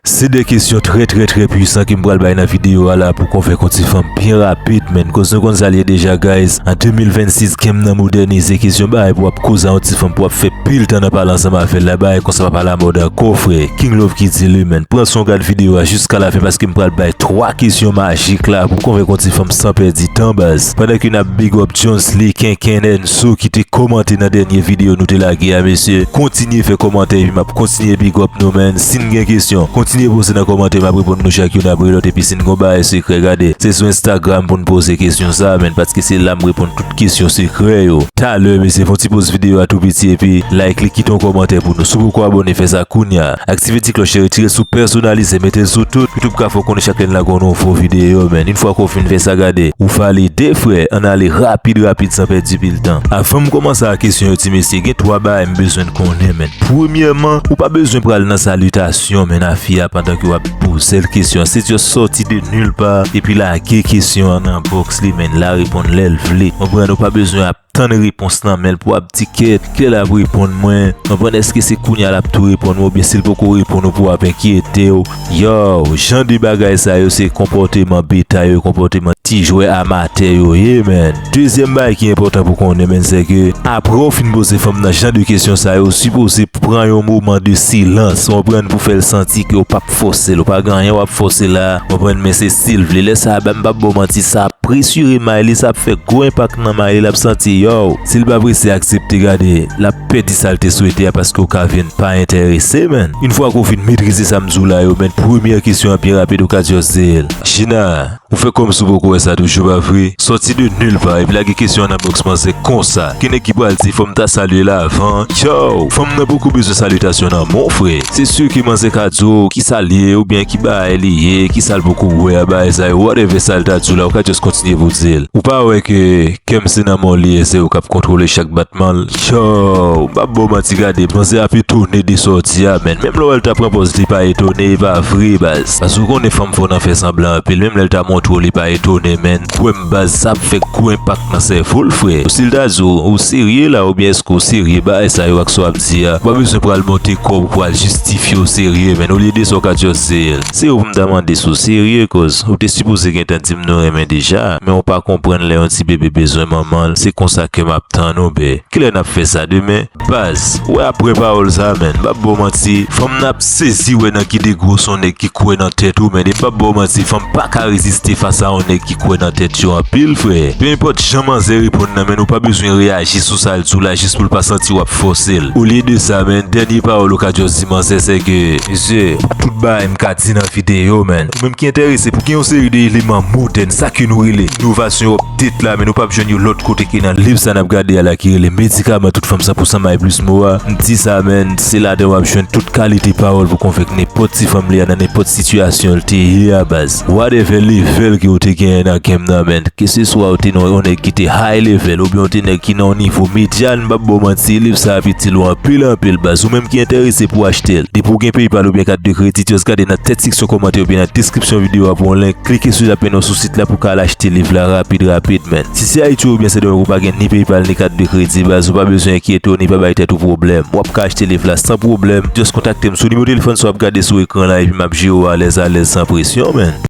Se 2 kesyon trè trè trè pwisan kem pral bay nan video a la pou konvenk on ti fanm byen rapid menn koz nou konn sal ye deja guys an 2026 game nan modènize kesyon bagay pou wap koz a on ti fanm pou wap fè pil tan nan pale ansanm avèl la bagay konsa pap alamòd ankò frè King love ki di li menn pran son gad video a jiska la fen paske m pral bay 3 kesyon majik la pou konvenk on ti fanm san pèdi tan baz pandan ke nap big up Djonsly kenkenn Sou ki te komante nan dènye video nou te lage a mesye kontinye fè komantè epi map kontinye big up nou man sin gen kesyon kontinye poze nan komantè map reponn nou chak youn apre lòt epi sin gon bagay sekrè gade se sou instagram poun poze kesyon sa man paske se la m reponn tout kesyon sekrè yo talè mesye fon ti poz video a tou piti epi like li kite yon komantè pou nou sou poko abone fè sa kounya. Aktive ti klòch e retire sou pèsonalize mete l sou tout youtube ka fè w konnen chak lè n lage yon nouvo videyo menn yn fwa ke w fin fè sa gade ou valide frè ann ale rapid rapid san pèdi pil tan avan m kòmanse a kesyon yo ti mesye gen 3 bagay m bezwen n konnen menn premyèman ou pa bezwen pral nan salitasyon menn a fi a pandan ke w ap poze l kesyon se just sòti de nil pa epi lage kesyon an nan box li menn la reponn lè l vle konprann ou pa bezwen ap Tann repons nan menl pou ap di kèt kilè lap reponn mwen anvan eske se kounya lap tou reponn mwen oubyen sil poko reponn ou pou ap enkyetew yow jan de bagay sa yo se konpòteman beta yo konpòteman ti jwè amatè yo ye menn dezyèm bagay ki enpòtan pou konnen menn sèke aprèw fin poze fanm nan jan de kesyon sa yo ou sipoze pran yon moman de silans konprann pou fèl santi ke ou pa. ap fosel ou pa gen anyen wap fose la konprann men se sil vle lè sa bam pap baw manti sa ap presire Maylis ap fè gwo enpak nan Mayi lap santi yow sil pa prese aksepte gade lap pèdi sal te swete a paske ou ka vin pa entèrese menn yn fwa ke ou fin metrize sam diw la yo menn premyè kesyon an pi rapid ou ka just dil Gina. Ou fè kòmsi ou poko wè sa toujou pa vre, sòti de nul part epi lage kesyon an nan box manzè konsa, ki nèg ki pral di fòm ta salye la avan, yow fanm nan poko bezwen salutation nan mon frè, se sur ke manzè ka di w ki salye ou byen ki baay li ye, ki sal poko wè a baay sa yo whatever sal ta di w la ou ka just kontinye pou w di l, ou pa wè ke kèm se nan men w li ye se ou kap kontwole chak batman l, yow m pap ba w manti gade manzè ap etone de sa w di a menn menm lè w wè l ta pran pòz li pa etone e pa vre baz. Baz ou konnen fanm fò nan fè sanblan anpil menm lèl ta montre w li pa etone menn kwèm baz sa ap fè gwo enpak nan sèvo l frè Sil ta di w ou serye la oubyen eske w serye bagay sa yo ak sa w ap di a ou pa bezwen pral monte kò w pou al jistifye w serye menn olye de sa w ka di w se Se ou pou m ta mande si w serye koz ou te sipoze gentan di m nou renmen deja men ou pa konprann lè yon ti bebe bezwen manman l se konsa kè m ap tann ou be kilè n ap fè sa demen Baz, wè aprè pawòl sa menn, pap baw manti, fanm nan ap sezi wè nan ki degre w se yon nèg ki kwè nan tèt ou menn e pap baw manti fanm paka reziste fas a yon nèg ki kwè nan tèt yo anpil frè, pe enpòt jan manzè reponn nan menn ou pa bezwen reyaji sou sa l di w la jis pou l pa santi wap fòse l, olye de sa menn dènye pawòl ou ka just di manzè se ke. Mesye, pou tout bagay m ka di nan videyo menn, ou menm ki enterese pou gen yon seri de eleman modèn sa ke nou rele inovasyon yo. Tit la men nou pap jwenn yo lòt kote ke nan liv sa nap gade a la ki rele Medikaman tout fanm 100% may plis mo a, m di sa menn se ladan wap jwenn tout kalite pawòl pou konvenk nenpòt ti fanm li a nan nenpòt sitiyasyon l te ye a baz. Whatever level ke ou te genyen nan game nan menn, ke se swa ou te nan yon nèg ki te high level oubyen ou te nèg ki nan yon nivo median m pap baw manti liv sa ap itil ou anpil anpil baz ou menm ki enterese pou achte l depi ou gen PayPal oubyen kat de kredit just gade nan tèt seksyon kòmantè oubyen nan deskripsyon video a pou yon link klike sou l ap mennen w sou la pou ka al achte liv la rapid rapid menn. Si se Ayiti oubyen Sendomeng ou pa gen ni Paypal ni kat de kredi baz ou pa bezwen enkyete w ni pa bay tèt ou pwoblèm. Wap ka achte liv la san pwoblèm, just kontakte m sou nimewo telefòn sa wap gade sou ekran la epi map jere w alèz alèz san presyon menn.